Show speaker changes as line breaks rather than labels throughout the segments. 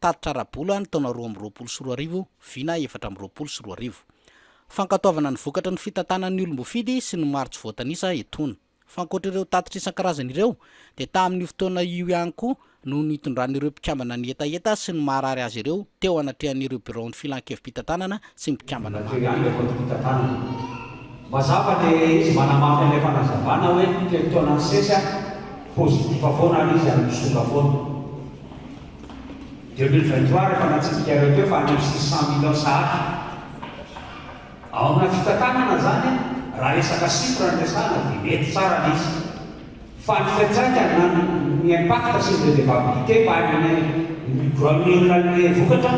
Tatitra ara-bola ny taona roa amby roapolo sy roa arivo, vina efatra amby roapolo sy roa arivo. Fankatoavana ny vokatra ny fitantanan'ny olom-bofidy sy ny maro tsy voatanisa etoana. Fa ankoatra ireo tatitra isan-karazany ireo dia tamin'io fotoana io ihany koa no nitondran'ireo mpikambana ny hetaheta sy ny maharary azy ireo teo anatrehan'ireo biraon'ny Filan-kevi-pitantanana tsy mpikambana maro. Rajoelina efa tonta tanana.
Mazava dia ilay izy manamafy an'ilay fanazavana hoe telo taona nisesy aho positif foana ary izy ary misonga foana. Deux mille vingt trois rehefa natsipik'areo teo fa any am six cent millions sahady. Ao amina fitantanana zany raha resaka chiffre no resahana dia mety tsara le izy. Fandikan-tsaina na ny impact sur le vivabilité par une environnementale vokatra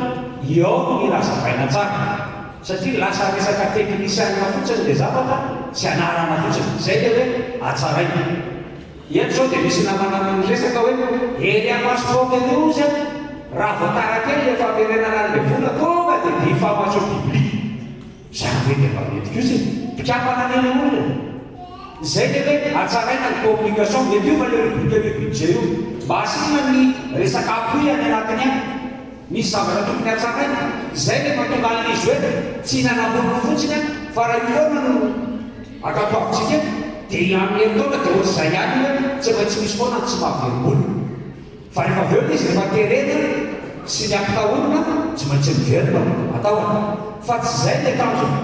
eo amin'ny raha zavaina tsara satria lasa resaka teknisianina fotsiny ilay zavatra sy anarana fotsiny, izay ilay hoe hatsaraina. Eto izao dia misy namana miresaka hoe ery amasontsika ao ery hozy an, raha vao tara kely ilay famerenana an'ilay vola tonga dia dihy famatsiam-pibiliana. Izany ve dia mba mety kosa e? Mpikambana any ilay olona e! Izay ve hoe hatsaraina ny communication? Mety hiova ilay rubrique io budget io. Mba asiana ny resaka appui any anatiny any. Misy zavatra tokony hatsaraina. Izay ilay mahatonga an'izy hoe tsy hihinana amboniny fotsiny aho fa raha io foana no ankatoavintsika eto dia amin'ny herintaona dia ohatr'izay ihany hoe tsy maintsy misy foana ny tsy mahaverimbola. Fa rehefa avy eo izy rehefa terena sy ny ampitahorina tsy maintsy miverina ao an-tahony. Fa tsy izay ilay tanjona.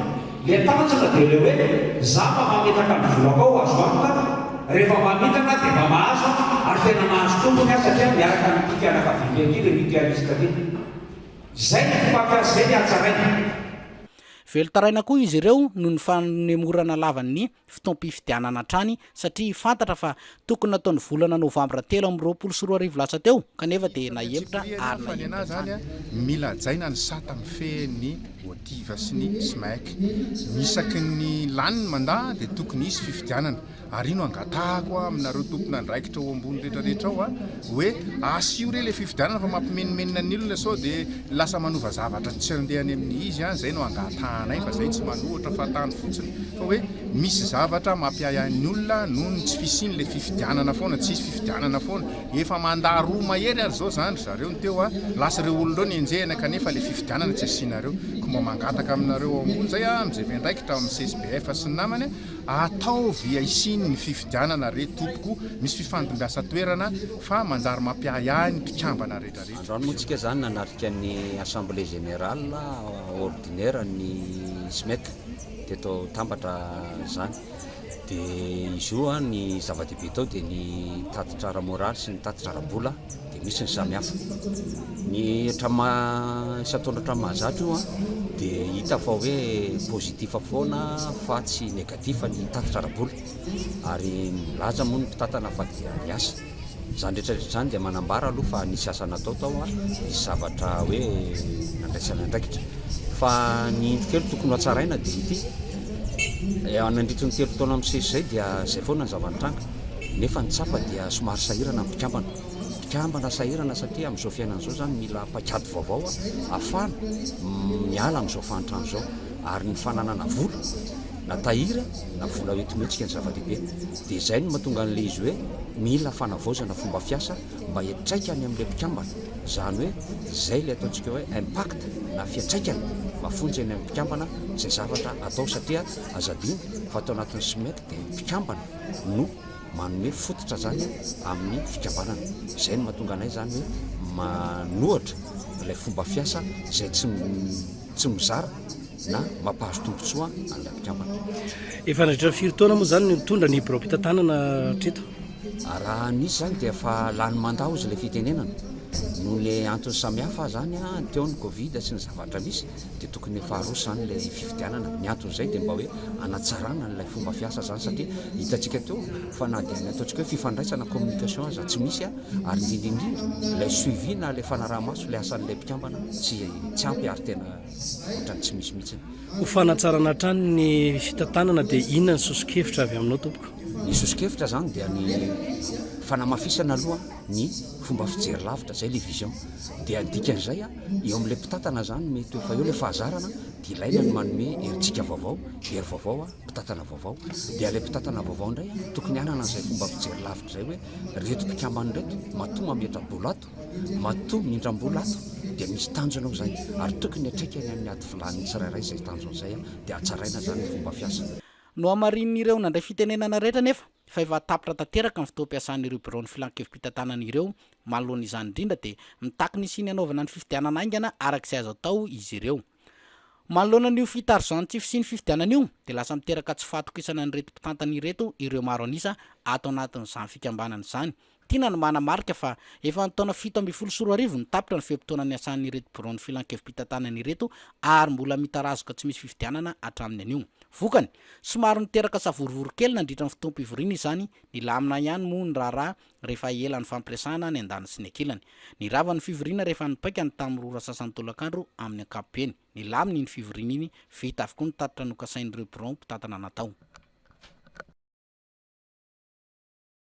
Ilay tanjona dia ilay hoe za mba mamitaka ny volako ao azo antoka rehefa mamitaka dia mba mahazo ary tena mahazo tompony aho satria miaraka amin'ity fianakaviako ity ilay mutualiste ity. Izay ny fomba fiasa izay ny hatsaraina.
Velon-taraina koa izy ireo noho ny fanemorana lavan'ny fotoam-pifidianana hatrany satria fantatra fa tokony natao ny volana novambra telo amby roapolo sy roa arivo lasa teo kanefa dia nahemotra ary nahemotra hatrany.
Mila hajaina ny sata mifehy ny ODIHR sy ny SMEC. Isaky ny lany ny mandat dia tokony hisy fifidianana. Ary io no angatahako aminareo tompon'andraikitra ao ambony rehetrarehetra ao. hoe asio re le fifidianana fa mampimenomenona ny olona sao de lasa manova zavatra tsy andeha any amin'ny izy an zay no angatahanay fa zay tsy manohatra fa tany fotsiny fa hoe misy zavatra mampiahiahin'ny olona noho ny tsy fisiany le fifidianana foana tsy hisy fifidianana foana efa manda roa mahery ary zao zany ry zareo ny teo a lasa ireo olonreo ny enjehina kanefa le fifidianana tsy asianareo ko mba mangataka aminareo ao ambony zay a mizay vendraikitra amin'ny csbf sy ny namany Ataovy aisiny ny fifidianana re tompoko misy fifandimbiasa toerana fa manjary mampiahiahy ny mpikambana rehetra rehetra. Androany moa tsika zany
nanatrika ny assemblée générale ordinaire ny Smec teto Tambatra zany de izy io ny zava-dehibe tao de ny tatitra ara-moraly sy ny tatitra ara-bola. Dia misy ny samihafa. Ny hatramin'ny isan-taona hatramin'ny mahazatra io dia hita fa hoe positif foana fa tsy négatif ny tatitra ara-bola. Ary milaza moa ny mpitantana fa dia ny asa. Izany rehetra rehetra izany dia manambara aloha fa nisy asa natao tao, nisy zavatra hoe nandraisana andraikitra. Fa ny indro kely tokony ho hatsaraina dia ity, nandritry ny telo taona misesy izay dia izay foana ny zava-nitranga. nefa ny tsapa dia somary sahirana ny mpikambana. Mpikambana sahirana satria amin'izao fiainana izao izany mila paikady vaovao ahafahana miala amin'izao fahantrana izao ary ny fananana vola na tahiry na vola hoentin'hetsika ny zava-dehibe. Dia izay no mahatonga an'ilay izy hoe mila fanavaozana fomba fiasa mba hiantraikany amin'ilay mpikambana, izany hoe izay ilay ataontsika hoe impact na fiantraikany mafonja eny amin'ny mpikambana izay zavatra atao satria aza adino fa tao anatin'ny SMEC ny mpikambana no manome fototra izany amin'ny fikambanana. Izay no mahatonga anay izany hoe manohatra ilay fomba fiasa izay tsy tsy mizara na mampahazo tombontsoa an'ilay mpikambana. Efa nandritra ny
firy taona moa izany no nitondra ny birao mpitantanana hatreto?
Raha nisy izany dia
efa
lany mandat hozy ilay fitenenana. Noho ny antony samihafa izany, teo ny covid sy ny zavatra misy. dia tokony efa aroso izany ilay fifidianana, ny anton'izay dia mba hoe hanatsarana an'ilay fomba fiasa izany satria hitantsika teo fa na dia ny ataontsika hoe fifandraisana, communication, aza tsy misy ary indrindra indrindra ilay suivi na ilay fanaraha-maso ilay asan'ilay mpikambana tsy tsy ampy ary tena ohatran'ny tsy misy mihitsiny. Ho fanatsarana
hatrany ny fitantanana dia inona ny soso-kevitra avy aminao tompoko? Ny soso-kevitra
izany dia ny fanamafisana aloha ny fomba fijery lavitra, izay ilay vision, dia ny dikan'izay a. Eo amin'ilay mpitantana izany mety ho efa eo ilay fahazarana dia ilaina ny manome herijika vaovao, hery vaovao, mpitantana vaovao. Dia ilay mpitantana vaovao indray tokony hanana an'izay fomba fijery lavitra izay hoe, ry reto mpikambana ireto, matoa mametra-bola ato, matoa mindram-bola ato dia misy tanjona ao izany ary tokony hiatreka eny amin'ny ady filan'ny tsirairay izay tanjona izay dia hatsaraina izany ny fomba fiasa. Nohamarinin'ireo
nandray fitenenana rehetra anefa fa efa tapitra tanteraka ny fotoam-piasan'ireo biraon'ny Filan-kevi-pitantanana ireo Manoloana izany indrindra dia mitaky ny hisian'ny hanaovana ny fifidianana haingana araka izay azo atao izy ireo. Manoloana an'io fitarozan'ny tsy fisian'ny fifidianana io dia lasa miteraka tsy fahatokisana an'ireto mpitantana ireto ireo maro an'isa ato anatin'izany fikambanana izany. Tiana ny manamarika fa efa ny taona fito ambin'ny folo sy roa arivo no tapitra ny fe-potoana niasan'ireto biraon'ny filankevi-pitantanana ireto ary mbola mitarazoka tsy misy fifidianana hatramin'ny anio. Vokany, somary niteraka savorovoro kely nandritra ny fotoam-pivoriana izany, nilamina ihany moa ny raharaha rehefa ela nifampiresahana ny an-daniny sy ny ankilany. Nirava ny fivoriana rehefa nipaika ny tamin'ny roa ora sasany tolakandro amin'ny ankapobeny. Nilamina iny fivoriana iny, vita avokoa ny tatitra nokasain'ireo birao mpitantana natao.